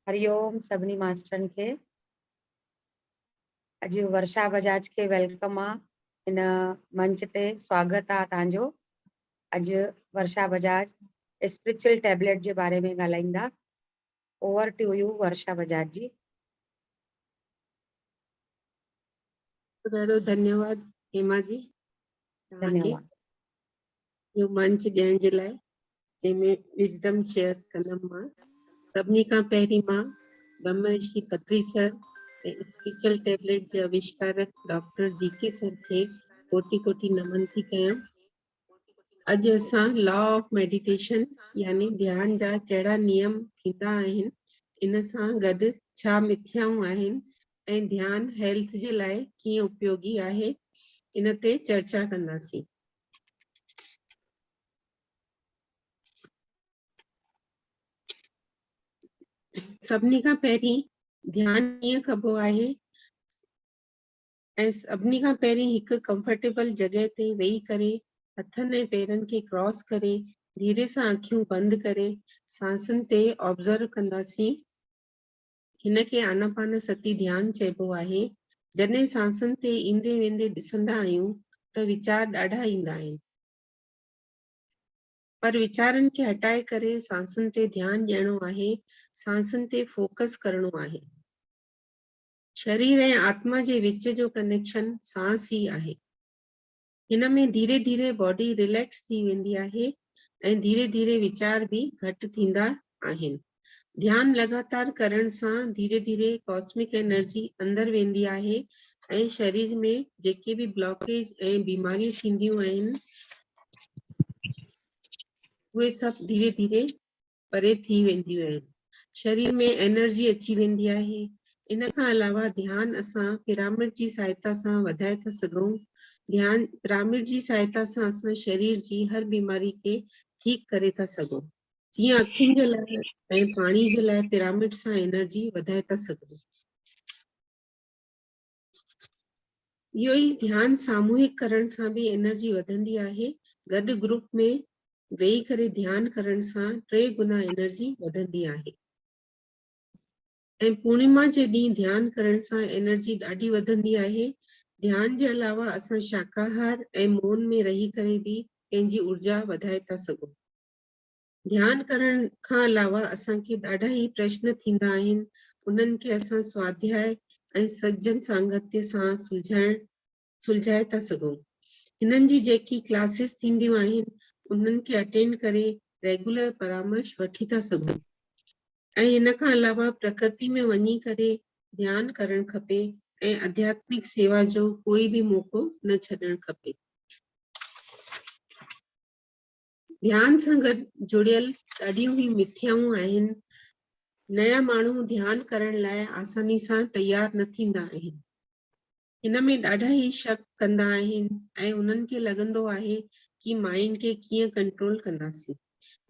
هري اوم سڀني ماسترن کي اڄ ورشا بجاج کي ويلڪم آ هن منچ تي سواگت آ تان جو اڄ ورشا بجاج اسپريچل ٽيبليٽ جي باري ۾ ڳالهائيندا over to you Varsha Bajaj ji. ڏاڍو ڌنيواد هيما جي توهان کي ڌنيواد. اهو منچ ڏيڻ جي لاء جنهن ۾ وزڊم شيئر ڪندم مان سڀني کان پهرين مان Brahma Rishi Patri sir ۽ spiritual tablet جي اويشڪارڪ ڊاڪٽر جي ڪي سر کي ڪوٽي ڪوٽي نمن ٿي ڪيان اڄ اسان لا آف ميڊيٽيشن يعني ڌيان جا ڪهڙا نيم ٿيندا آهن ان سان گڏ ڇا مٿيائون آهن ۽ ڌيان هيلٿ جي لاء ڪيئن اپيوگي آهي ان تي چرچا ڪنداسين سڀني کان پهرين ڌيان ڪيئن ڪبو آهي ۽ سڀني کان پهرين هڪ ڪمفرٽيبل جڳهه تي ويهي ڪري هٿن ۽ پيرن کي ڪراس ڪري ڌيري سان اکيون بند ڪري سانسن تي آبزرو ڪنداسين هن کي آناپان ستي ڌيان چئبو آهي جڏهن سانسن تي ايندي ويندي ڏسندا آهيون ته ويچار ڏاڍا ايندا آهن پر ويچارن کي هٽائي ڪري سانسن تي ڌيان ڏيڻو آهي سانسن تي فوڪس ڪرڻو آهي شرير ۽ آتما جي وچ جو ڪنيڪشن سانس ئي آهي. هن ۾ ڌيري ڌيري باڊي ريليڪس ٿي ويندي آهي ۽ ڌيري ڌيري ويچار به گهٽ ٿيندا آهن. ڌيان لڳاتار ڪرڻ سان ڌيري ڌيري ڪاسمڪ انرجي اندر ويندي آهي ۽ شرير ۾ جيڪي به بلاڪيج ۽ بيماريون ٿينديون آهن اهي سڀ ڌيري ڌيري پري ٿي وينديون آهن شرير ۾ انرجي اچي ويندي آهي ان کان علاوه ڌيان اسان پيرامڊ جي سهائتا سان وڌائي ٿا سگهون ڌيان پيرامڊ جي سهائتا سان اسان شرير جي هر بيماري کي ٺيڪ ڪري ٿا سگهون جيئن اکين جي لاء ۽ پاڻي جي لاء پيرامڊ سان انرجي وڌائي ٿا سگهون اهو ئي ڌيان ساموهڪ ڪرڻ سان به انرجي وڌندي آهي، گڏ گروپ ۾ ويهي ڪري ڌيان ڪرڻ سان ٽي گنا انرجي وڌندي آهي ۽ پورنيما جي ڏينهن ڌيان ڪرڻ سان انرجي ڏاڍي وڌندي آهي ڌيان جي علاوه اسان شاڪاهار ۽ مون ۾ رهي ڪري به پنهنجي ارجا وڌائي ٿا سگهون ڌيان ڪرڻ کان علاوه اسان کي ڏاڍا ئي پرشن ٿيندا آهن، انهن کي اسان سواڌياء ۽ سجن سانگتيء سان سلجهائڻ سلجهائي ٿا سگهون. هنن جي جيڪي ڪلاسز ٿينديون آهن، انهن کي اٽينڊ ڪري ريگولر پرامرش وٺي ٿا سگهون ۽ ان کان علاوه پرڪرتي ۾ وڃي ڪري ڌيان ڪرڻ کپي ۽ اڌياتمڪ سيوا جو ڪوئي به موقعو نه ڇڏڻ کپي. ڌيان سان گڏ جڙيل ڏاڍيون ئي مٿيائون آهن نيا ماڻهو ڌيان ڪرڻ لاء آساني سان تيار نه ٿيندا آهن ان ۾ ڏاڍا ئي شڪ ڪندا آهن ۽ انهن کي لڳندو آهي ڪي مائنڊ کي ڪيئن ڪنٽرول ڪنداسين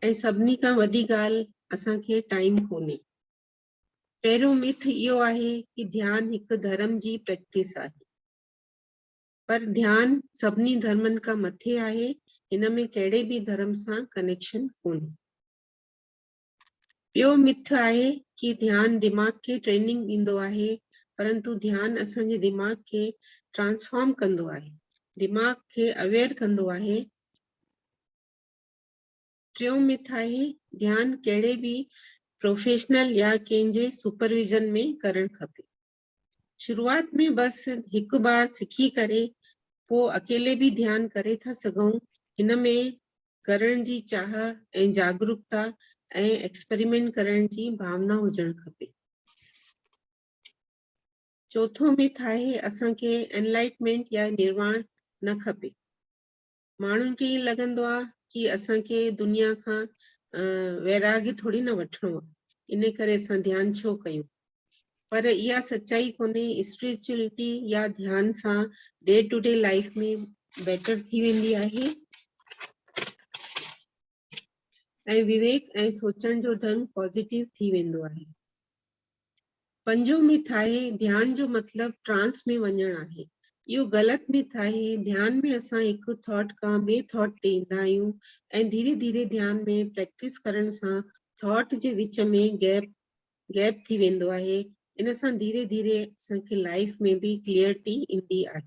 ۽ سڀني کان وڏي ڳالهه اسان کي ٽائيم ڪونهي پهريون مٿ اهو آهي ڪي ڌيان هڪ ڌرم جي پريڪٽس آهي پر ڌيان سڀني ڌرمن کان مٿي آهي هن ۾ ڪهڙي به ڌرم سان ڪنيڪشن ڪونهي. ٻيو مٿ آهي ڪي ڌيان دماغ کي ٽريننگ ڏيندو آهي پرنتو ڌيان اسان جي دماغ کي ٽرانسفارم ڪندو آهي دماغ کي اويئر ڪندو آهي ٽيون مٿ آهي ڌيان ڪهڙي به پروفيشنل يا ڪنهن جي سپرويزن ۾ ڪرڻ کپي شروعات ۾ بس هڪ بار سکي ڪري پو اڪيلي به ڌيان ڪري ٿا سگهون هن ۾ ڪرڻ جي چاهه ۽ جاگروڪتا ۽ ايڪسپريمينٽ ڪرڻ جي ڀاونا هجڻ کپي چوٿون مٿ آهي اسان کي انلائٽمينٽ يا نرواڻ نه کپي ماڻهن کي ائين لڳندو آهي ڪي اسان کي دنيا کان ويراڳ ٿوري نه وٺڻو آهي ان ڪري اسان ڌيان ڇو ڪيون پر اها سچائي ڪونهي اسپريچوئلٽي يا ڌيان سان day to day life ۾ better ٿي ويندي آهي ۽ وويڪ ۽ سوچڻ جو ڍنگ پازيٽو ٿي ويندو آهي پنجون ميٿاهي ڌيان جو مطلب ٽرانس ۾ وڃڻ آهي. اهو غلط ميٿاهي ڌيان ۾ اسان هڪ ٿاٽ کان ٻئي ٿاٽ تي ايندا آهيون ۽ ڌيري ڌيري ڌيان ۾ پريڪٽس ڪرڻ سان ٿاٽ جي وچ ۾ گيپ گيپ ٿي ويندو آهي ان سان ڌيري ڌيري اسان کي لائيف ۾ به ڪليئرٽي ايندي آهي.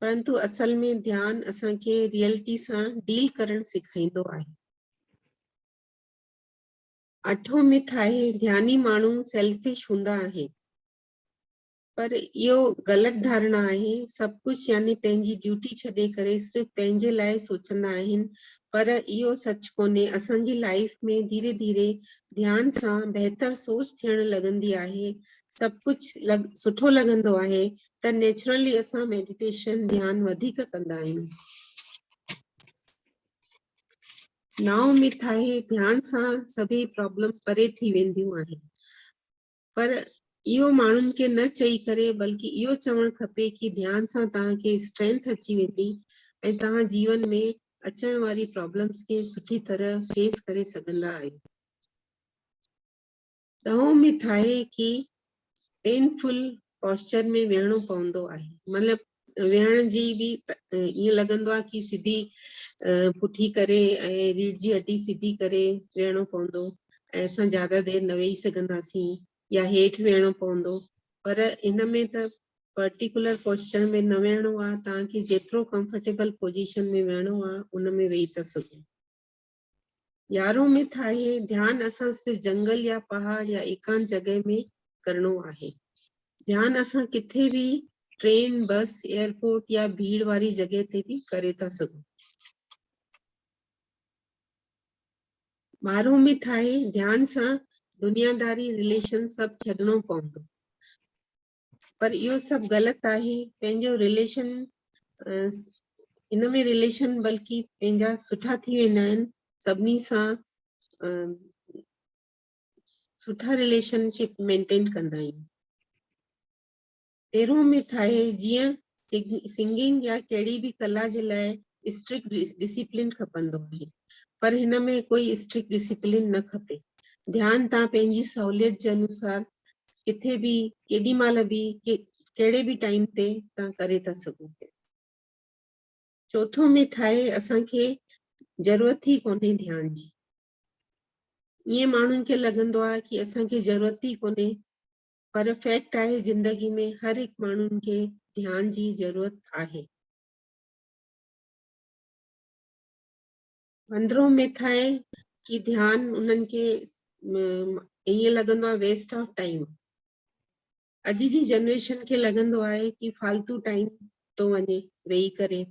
پرنتو اصل ۾ ڌيان اسان کي ريئلٽي سان ڊيل ڪرڻ سيکائيندو آهي اٺو مٿ آهي ڌياني ماڻهو سيلفش هوندا آهن پر اهو غلط ڌارڻا آهي سڀ ڪجهه يعني پنهنجي ڊيوٽي ڇڏي ڪري صرف پنهنجي لاء سوچندا آهن پر اهو سچ ڪونهي اسان جي لائف ۾ ڌيري ڌيري ڌيان سان بهتر سوچ ٿيڻ لڳندي آهي سڀ ڪجهه لڳ سٺو لڳندو آهي ته نيچرلي اسان ميڊيٽيشن ڌيان وڌيڪ ڪندا آهيون ناو ۾ ٿاهي ڌيان سان سڀي پرابلم پري ٿي وينديون آهن پر اهو ماڻهن کي نه چئي ڪري بلڪ اهو چوڻ کپي ته ڌيان سان توهان کي اسٽرينٿ اچي ويندي ۽ توهان جيون ۾ اچڻ واري پرابلمز کي سٺي طرح فيس ڪري سگهندا آهيو ڏهون ۾ ٿاهي ڪي پين فل پوسچر ۾ ويهڻو پوندو آهي مطلب ويهڻ جي به ائين لڳندو آهي ڪي سڌي پٺي ڪري ۽ ريڙھ جي هڏي سڌي ڪري ويهڻو پوندو ۽ اسان زياده دير نه ويهي سگهنداسين يا هيٺ ويهڻو پوندو پر ان ۾ ته پرٽيڪولر پوسچر ۾ نه ويهڻو آهي توهان کي جيترو ڪمفرٽيبل پوزيشن ۾ ويهڻو آهي ان ۾ ويهي ٿا سگهو يارهون مٿ آهي ڌيان اسان صرف جنگل يا پهاڙ يا ايڪانت جڳهه ۾ ڪرڻو آهي ڌيان اسان ڪٿي به ٽرين بس ايئرپورٽ يا ڀيڙ واري جڳهه تي به ڪري ٿا سگهون ٻارهون مٿ آهي ڌيان سان دنياداري رليشن سڀ ڇڏڻو پوندو پر اهو سڀ غلط آهي پنهنجو رليشن ان ۾ رليشن بلڪه پنهنجا سٺا ٿي ويندا آهن سڀني سان سٺا رليشن شپ مينٽين ڪندا آهيون تيرهون مٿ آهي جيئن سنگنگ يا ڪهڙي به ڪلا جي لاء اسٽرڪٽ ڊسيپلين کپندو آهي پر هن ۾ ڪوئي اسٽرڪٽ ڊسيپلين نه کپي. ڌيان تان پنهنجي سهوليت جي انوسار ڪٿي به ڪيڏي مهل به ڪهڙي به ٽائيم تي تان ڪري ٿا سگهو پيا. چوٿون مٿ آهي اسان کي ضرورت ئي ڪونهي ڌيان جي. ائين ماڻهن کي لڳندو آهي ڪي اسان کي ضرورت ئي ڪونهي پر فيڪٽ آهي زندگي ۾ هر هڪ ماڻهن کي ڌيان جي ضرورت آهي. اندرون مٿ آهي ڪي ڌيان انهن کي ائين لڳندو آهي ويسٽ آف ٽائيم اڄ جي جنريشن کي لڳندو آهي ڪي فالتو ٽائيم ٿو وڃي ويهي ڪري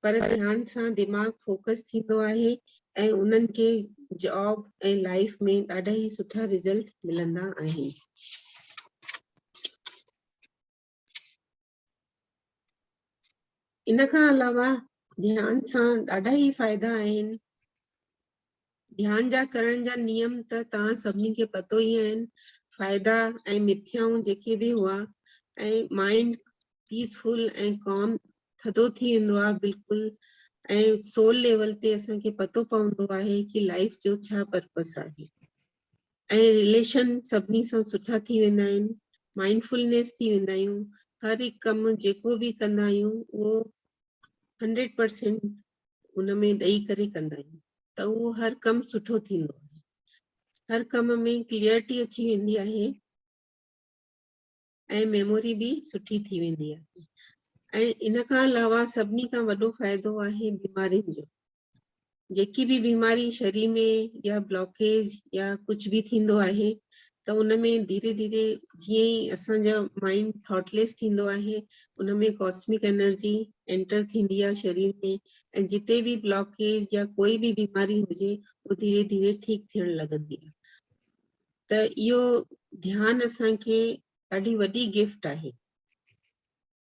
پر ڌيان سان دماغ فوڪس ٿيندو آهي ۽ انهن کي جاب ۽ لائيف ۾ ڏاڍا ئي سٺا رزلٽ ملندا آهن. ان کان علاوه ڌيان سان ڏاڍا ئي فائدا آهن. ڌيان جا ڪرڻ جا نيم ته توهان سڀني کي پتو ئي آهن، فائدا ۽ مٿيائون جيڪي به هئا ۽ مائنڊ پيس فل ۽ ڪام ٿڌو ٿي ويندو آهي بلڪل ۽ سول ليول تي اسان کي پتو پوندو آهي ڪي لائف جو ڇا پرپس آهي ۽ ريليشن سڀني سان سٺا ٿي ويندا آهن مائنڊ فلنيس ٿي ويندا آهيون هر هڪ ڪم جيڪو به ڪندا آهيون اهو 100% ان ۾ ڏئي ڪري ڪندا آهيون ته اهو هر ڪم سٺو ٿيندو آهي هر ڪم ۾ ڪليئرٽي اچي ويندي آهي ۽ ميموري به سٺي ٿي ويندي آهي ۽ ان کان علاوه سڀني کان وڏو فائدو آهي بيمارين جو جيڪي به بيماري شرير ۾ يا بلاڪيج يا ڪجهه به ٿيندو آهي ته ان ۾ ڌيري ڌيري جيئن ئي اسان جا مائنڊ ٿاٽ ليس ٿيندو آهي ان ۾ ڪاسمڪ انرجي انٽر ٿيندي آهي شرير ۾ ۽ جتي به بلاڪيج يا ڪوئي به بيماري هجي اهو ڌيري ڌيري ٺيڪ ٿيڻ لڳندي آهي ته اهو ڌيان اسان کي ڏاڍي وڏي گفٽ آهي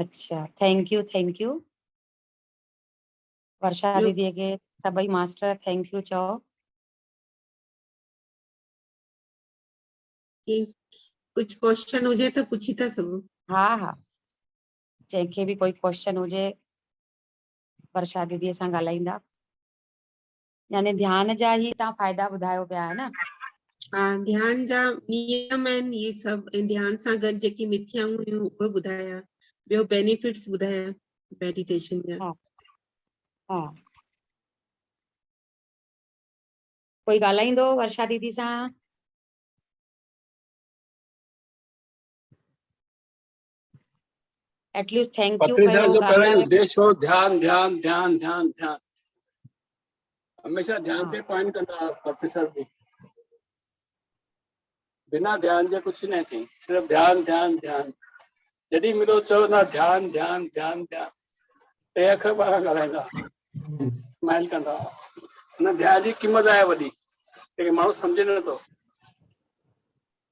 اچھا thank you thank you Varsha ٻيو ديدي کي سڀئي ماستر ٿينڪ يو چئو ڪجھ ڪوشچن هجي ته پڇي ٿا سگهو ها ها جنهن کي به ڪوئي ڪوشچن هجي ورشا ديدي سان ڳالهائيندا يعني ڌيان جا هي تان فائدا ٻڌايو پيا ها نه. ها ڌيان جا نيم آهن هي سڀ ۽ ڌيان سان گڏ جيڪي مٿيائون هيون اهي ٻڌايا ٻيو بينيفٽس ٻڌايا ميڊيٽيشن جا ها ها ڪوئي ڳالهائيندو ورشا ديدي سان At least thank you پٿري صاحب جو پهريون ئي اديش هو ڌيان ڌيان ڌيان ڌيان ڌيان هميشه ڌيان تي پوائنٽ ڪندا پٿري صاحب جي بنا ڌيان جي ڪجهه نه ٿي صرف ڌيان ڌيان ڌيان جڏهن ملو چوندا ڌيان ڌيان ڌيان ڌيان ٽي اکر ٻارا ڳالهائيندا اسمائل ڪندا هن ڌيان جي قيمت آهي وڏي لیڪن ماڻهو سمجھي نٿو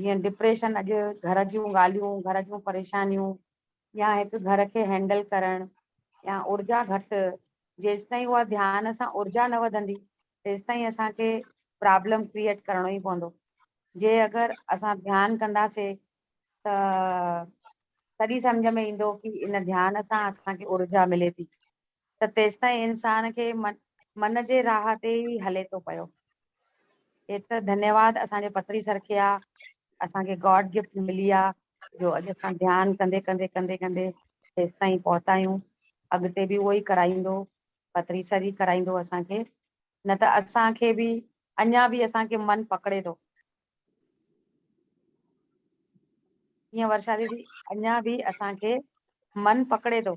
جيئن ڊپريشن اڄ گهر جون ڳالهيون، گهر جون پريشانيون يا هڪ گهر کي هينڊل ڪرڻ يا اورجا گهٽ جيستائين اها ڌيان سان اورجا نه وڌندي تيستائين اسان کي پرابلم ڪريئيٽ ڪرڻو ئي پوندو جي اگر اسان ڌيان ڪنداسي ته تڏي سمجهه ۾ ايندو ڪي ان ڌيان سان اسان کي اورجا ملي ٿي. ته تيستائين انسان کي من جي راهه تي ئي هلي ٿو پيو. ايتر ڌنيواد اسان جي پتري سر کي آ، اسان کي گاڊ گفٽ ملي آ، جو اڄ اسان ڌيان ڪندي ڪندي ڪندي ڪندي هيستائين پهتا آهيون. اڳتي به اهو ئي ڪرائيندو، پتري سر ئي ڪرائيندو اسان کي، نه ته اسان کي به اڃا به اسان کي من پڪڙي ٿو، جيئن ورشا ديدي اڃا به اسان کي من پڪڙي ٿو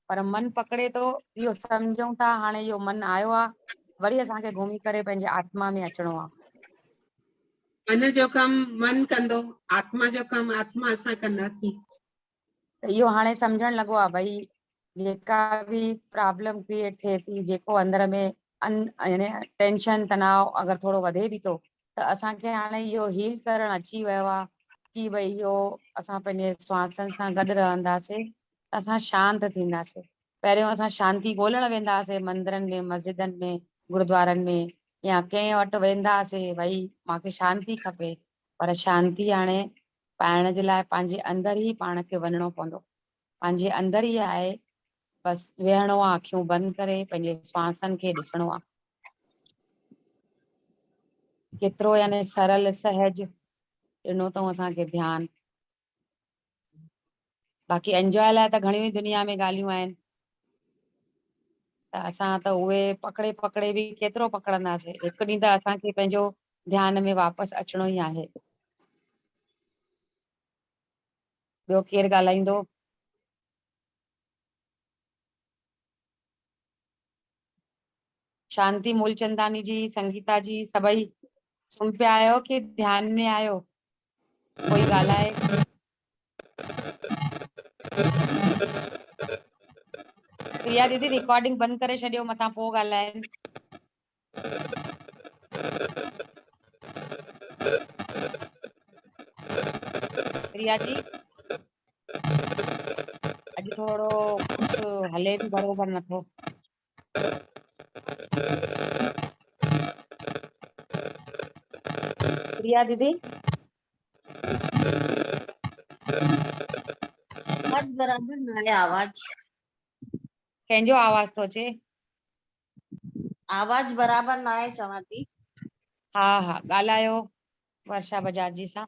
پر من پڪڙي ٿو اهو سمجهون ٿا هاڻي اهو من آيو آ وري اسان کي گهمي ڪري پنهنجي آتما ۾ اچڻو آ. من جو ڪم من ڪندو آتما جو ڪم آتما اسان ڪنداسين. ته اهو هاڻي سمجهڻ لڳو آهي ڀئي جيڪا به پرابلم ڪريئيٽ ٿئي ٿي جيڪو اندر ۾ ان يعني ٽينشن تناء اگر ٿورو وڌي به ٿو ته اسان کي هاڻي اهو هيل ڪرڻ اچي ويو آهي ڪي ڀئي اهو اسان پنهنجي سوانسن سان گڏ رهنداسين ته اسان شانت ٿينداسين پهريون اسان شانتي ڳولڻ وينداسين مندرن ۾ مسجدن ۾ گردوارن ۾ يا ڪنهن وٽ وينداسين ڀئي مانکي شانتي کپي پر شانتي هاڻي پائڻ جي لاء پنهنجي اندر ئي پاڻ کي وڃڻو پوندو. پنهنجي اندر ئي آهي. بس ويهڻو آ اکيون بند ڪري پنهنجي سانسن کي ڏسڻو آ. ڪيترو يعني سرل سهج ڏنو اٿئون اسان کي ڌيان. باقي انجوائي لاء ته گهڻيون ئي دنيا ۾ ڳالهيون آهن ته اسان ته اهي پڪڙي پڪڙي به ڪيترو پڪڙنداسين، هڪ ڏينهن ته اسان کي پنهنجو ڌيان ۾ واپس اچڻو ئي آهي. ٻيو ڪير ڳالهائيندو؟ شانتي مولچنداني جي، سنگيتا جي سڀئي سمهه پيا آهيو ڪي ڌيان ۾ آهيو؟ ڪوئي ڳالهائي. ريا ديدي ريڪارڊنگ بند ڪري ڇڏيو متان پو ڳالهائين. ريا جي اڄ ٿورو ڪجهه هلي به برابر نٿو. ريا ديدي آواز برابر نه آهي آواز ڪنهن جو آواز ٿو اچي آواز برابر نه آهي چوان ٿي ها ها ڳالهايو ورشا بجاج جي سان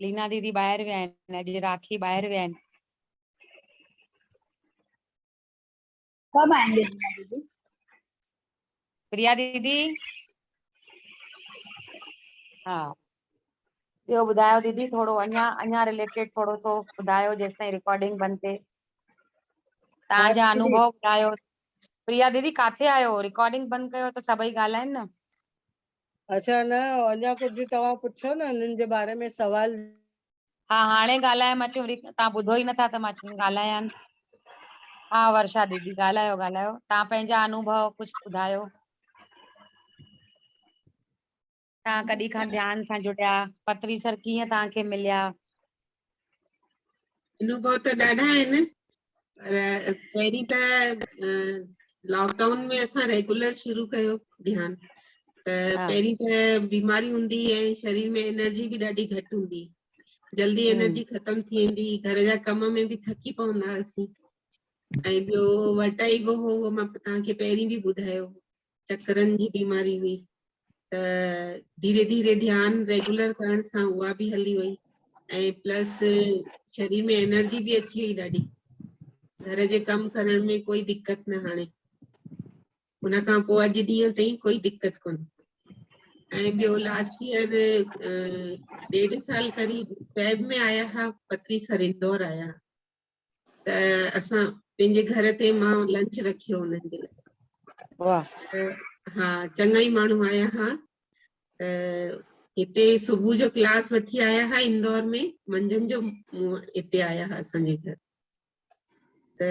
لينا ديدي ٻاهر ويا آهن اڄ راکي ٻاهر ويا آهن. ڪب آئين گي لينا ديدي؟ پريا ديدي ها ٻيو ٻڌايو ديدي ٿورو اڃا اڃا ريليٽيڊ ٿورو سو ٻڌايو جيستائين ريڪارڊنگ بند ٿئي تان جا انوڀو ٻڌايو پريا ديدي ڪاٿي آيو ريڪارڊنگ بند ڪيو ته سڀئي ڳالهائين نه اچا نه اڃا ڪجھ توهان پڇو نه انهن جي باري ۾ سوال. ها هاڻي ڳالهايم اچ وري تان ٻڌو ئي نٿا ته مان چم ڳالهايان. ها ورشا ديدي ڳالهايو ڳالهايو تان پنهنجا انوڀو ڪجھ ٻڌايو. تان ڪڏي کان ڌيان سان جڙيا پتريسر ڪيئن تان کي مليا. انوڀو ته ڏاڍا آهن پر پهرين ته لاڪ ڊائون ۾ اسان ريگولر شروع ڪيو ڌيان ته پهرين ته بيماري هوندي ۽ شرير ۾ انرجي به ڏاڍي گهٽ هوندي جلدي انرجي ختم ٿي ويندي گهر جا ڪم ۾ به ٿڪي پوندا هئاسين ۽ ٻيو وٽائيگو هو مطلب تان کي پهرين به ٻڌايو چڪرن جي بيماري هئي ته ڌيري ڌيري ڌيان ريگولر ڪرڻ سان اها به هلي وئي ۽ پلس شرير ۾ انرجي به اچي وئي ڏاڍي گهر جي ڪم ڪرڻ ۾ ڪوئي دقت نه هاڻي ان کان پوء اڄ ڏينهن تائين ڪوئي دقت ڪون ۽ ٻيو لاسٽ ايئر ڏيڍ سال قريب فيب ۾ آيا هئا پتري سر اندور آيا ته اسان پنهنجي گهر تي مان لنچ رکيو انهن جي لاء واهه ها چڱا ئي ماڻهو آيا ها ته هتي صبح جو ڪلاس وٺي آيا ها اندور ۾ منجهند جو هتي آيا ها اسان جي گهر ته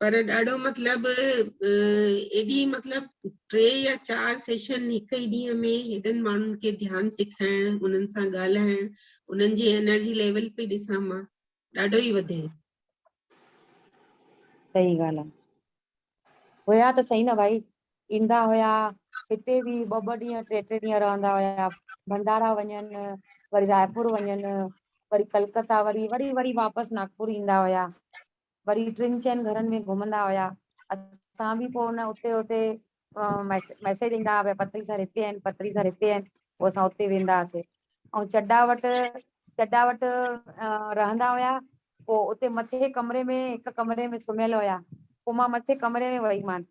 پر ڏاڍو مطلب ايڏي مطلب ٽي يا چار سيشن هڪ ئي ڏينهن ۾ هيڏن ماڻهن کي ڌيان سيکائڻ انهن سان ڳالهائڻ انهن جي انرجي ليول پي ڏسان مان ڏاڍو ئي وڌي صحيح ڳالهه آهي هيا ته صحيح نه ڀائي ايندا هيا هتي به ٻه ٻه ڏينهن ٽي ٽي ڏينهن رهندا هيا ڀنڊارا وڃن وري رايپور وڃن وري ڪلڪتا وري وري وري واپس ناگپور ايندا هيا وري ٽن چئن گهرن ۾ گهمندا هيا اسان به پوء نه اتي اتي ميسج ايندا هئا پتري سر هتي آهن پتري سر هتي آهن پوء اسان اتي ويندا هئاسي ۽ چڊا وٽ چڊا وٽ رهندا هيا پوء اتي مٿي ڪمري ۾ هڪ ڪمري ۾ سمهيل هيا پوء مان مٿي ڪمري ۾ وئي مان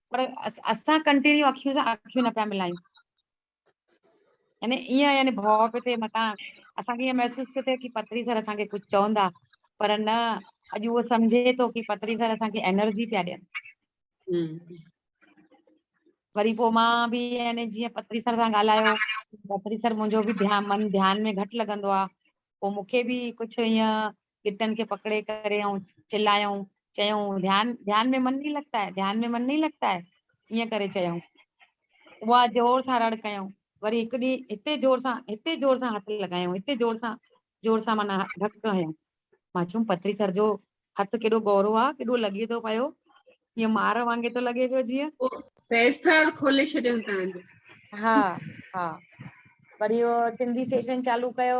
پر اسان ڪنٽينيو اکيون سان اکيون نه پيا ملايون يعني ايئن يعني ڀو پيو ٿئي متان اسان کي ائين محسوس پيو ٿئي ڪي پتري سر اسان کي ڪجھ چوندا پر نه اڄ اهو سمجهي ٿو ڪي پتري سر اسان کي انرجي پيا ڏين وري پوء مان به يعني جيئن پتري سر سان ڳالهايو پتري سر منهنجو به ڌيان من ڌيان ۾ گهٽ لڳندو آ پوء مون کي به ڪجھ ائين ڳٽن کي پڪڙي ڪري ۽ چلايائون، چيائون، ڌيان، ڌيان مين من نهين لڳتا هي، ڌيان مين من نهين لڳتا هي، ائين ڪري چيائون. اها زور سان رڙ ڪيائون. وري هڪ ڏينهن هتي زور سان، هتي زور سان هٿ لڳايائون، هتي زور سان، زور سان معنيٰ ڌڪ هنيائون. مان چيم، پٿري سر جو هٿ ڪيڏو ڳورو آ، ڪيڏو لڳي ٿو پيو، ائين مار وانگي ٿو لڳي پيو جيئن. پوء سيسٽر کولي ڇڏيائون تنهنجو. ها، ها. وري اهو سنڌي سيشن چالو ڪيو،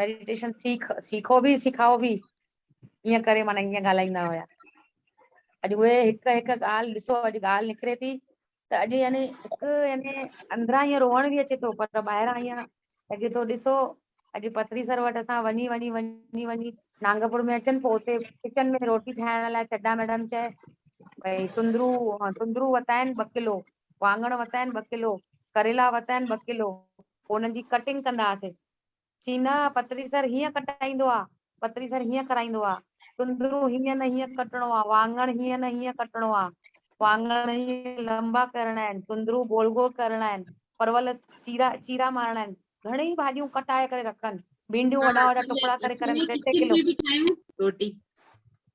ميڊيٽيشن سيک سيکو ڀي سکائو ڀي ايئن ڪري معنيٰ ايئن ڳالهائيندا هيا اڄ اهي هڪ هڪ ڳالهه ڏسو اڄ ڳالهه نڪري ٿي ته اڄ يعني هڪ يعني اندران ائين روئڻ به اچي ٿو پر ٻاهران ائين لڳي ٿو ڏسو اڄ پٿري سر وٽ اسان وڃي وڃي وڃي وڃي نانگپور ۾ اچن پوء اتي ڪچن ۾ روٽي ٺاهڻ لاء چڊا ميڊم چئي ڀئي تندرو تندرو وتا آهن ٻه ڪلو واڱڻ وتا آهن ٻه ڪلو ڪريلا وتا آهن ٻه ڪلو پوء انهن جي ڪٽنگ ڪندا هئاسين. چي نه پتري سر هيئن ڪٽائيندو آ، پتري سر هيئن ڪرائيندو آ، تندرو هيئن نه هيئن ڪٽڻو آ، وانڱڻ هيئن نه هيئن ڪٽڻو آ، وانڱڻ هيئن لنبا ڪرڻا آهن، تندرو گول گول ڪرڻا آهن، پرول چيرا چيرا مارڻا آهن، گهڻيئي ڀاڄيون ڪٽائي ڪري رکن، ڀينڊيون وڏا وڏا ٽڪڙا ڪري ڪرن ٽي ٽي ڪلو.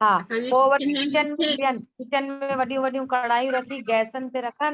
ها پوء وري ڪچن ۾ ويهن، ڪچن ۾ وڏيون وڏيون ڪڙهايون رکي گئسن تي رکن،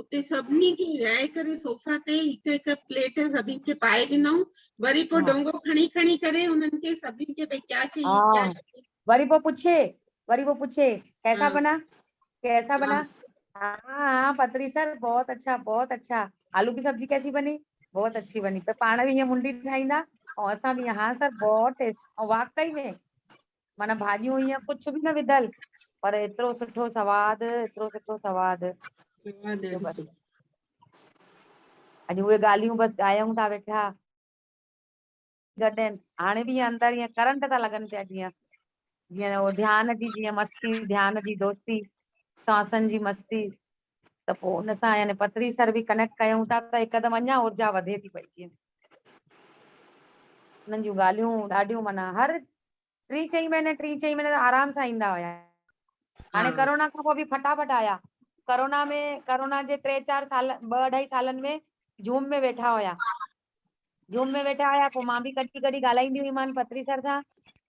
اتي سڀني کي ويهائي ڪري صوفا تي هڪ هڪ پليٽ سڀني کي پائي ڏنائون وري پوء ڊونگو کڻي کڻي ڪري انهن کي سڀني کي ڀئي ڪيا چاهيي ڪيا چاهيي وري پوء پڇي وري پوء پڇي ڪيسا بنا ڪيسا بنا ها ها پتري سر بهت اڇا بهت اڇا آلو ڪي سبزي ڪيسي بني بهت اڇي بني ته پاڻ به هيئن منڊي ٺاهيندا ۽ اسان به هيئن ها سر بهت ٽيسٽ ۽ واقعي ۾ معنيٰ ڀاڄيون ائين ڪجهه به نه وڌل پر ايترو سٺو سواد ايترو سٺو سواد سواد جو ڏاڍو بس سٺو اڄ اهي ڳالهيون بس ڳايون ٿا ويٺا گڏين هاڻي به اندر ائين ڪرنٽ ٿا لڳن پيا جيئن جيئن ڌيان جي جيئن مستي ڌيان جي دوستي سانسن جي مستي ته پوء ان سان يعني پٿري سر به ڪنيڪٽ ڪيون ٿا ته هڪدم اڃا اورجا وڌي ٿي پئي جيئن انهن جون ڳالهيون ڏاڍيون معنيٰ هر ٽي چئي مهيني ٽي چئي مهيني ته آرام سان ايندا هيا هاڻي ها ڪرونا کان پوء به فٽافٽ آيا ڪرونا ۾ ڪرونا جي ٽي چار سال ٻه اڍائي سالن ۾ زوم ۾ ويٺا هيا زوم ۾ ويٺا هيا پوء مان به ڪڏهن ڪڏهن ڳالهائيندي هئي مان پٿري سر سان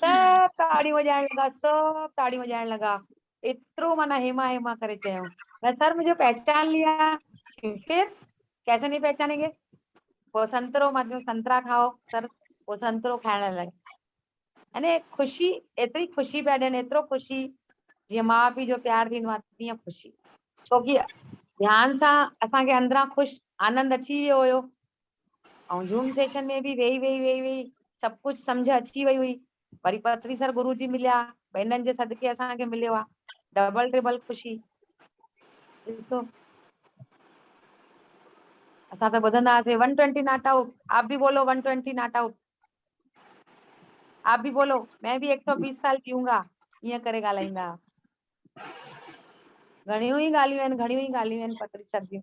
سڀ تاڙيون وڄائڻ لڳا، سڀ تاڙيون وڄائڻ لڳا. ايترو معنيٰ هيما هيما ڪري چيو ته سر مجھي پهچان ليا پھر ڪيسي نهي پهچانين گي پوء سنترو مان چيو سنترا کائو سر پوء سنترو کائڻ لڳا يعني خوشي ايتري خوشي پيا ڏين ايترو خوشي جيئن ماء پيء جو پيار ٿيندو آ تيئن خوشي ڇوڪي ڌيان سان اسان کي اندران خوش آنند اچي ويو هيو ائون زوم سيشن ۾ به ويهي ويهي ويهي ويهي سڀ ڪجهه سمجهه اچي وئي هئي. وري پرتري سر گرو جي مليا، بهنن جي صدقي اسان کي مليو آ. ڊبل ٽربل خوشي. ڏسو. اسان ته ٻڌندا هئاسين ون ٽوئنٽي ناٽ آئوٽ، آپ به بولو ون ٽوئنٽي ناٽ آئوٽ. آپ به بولو، مين به هڪ سئو بيس سال جيئون گا. ائين ڪري ڳالهائيندا هئا. گهڻيون ئي ڳالهيون آهن، گهڻيون ئي ڳالهيون آهن پرتري سر جون.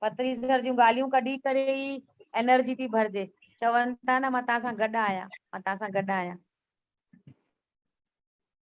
پتري سر جون ڳالهيون ڪڍي ڪري ئي انرجي ٿي ڀرجي چون ٿا نه مان تان سان گڏ آهيان مان تان سان گڏ آهيان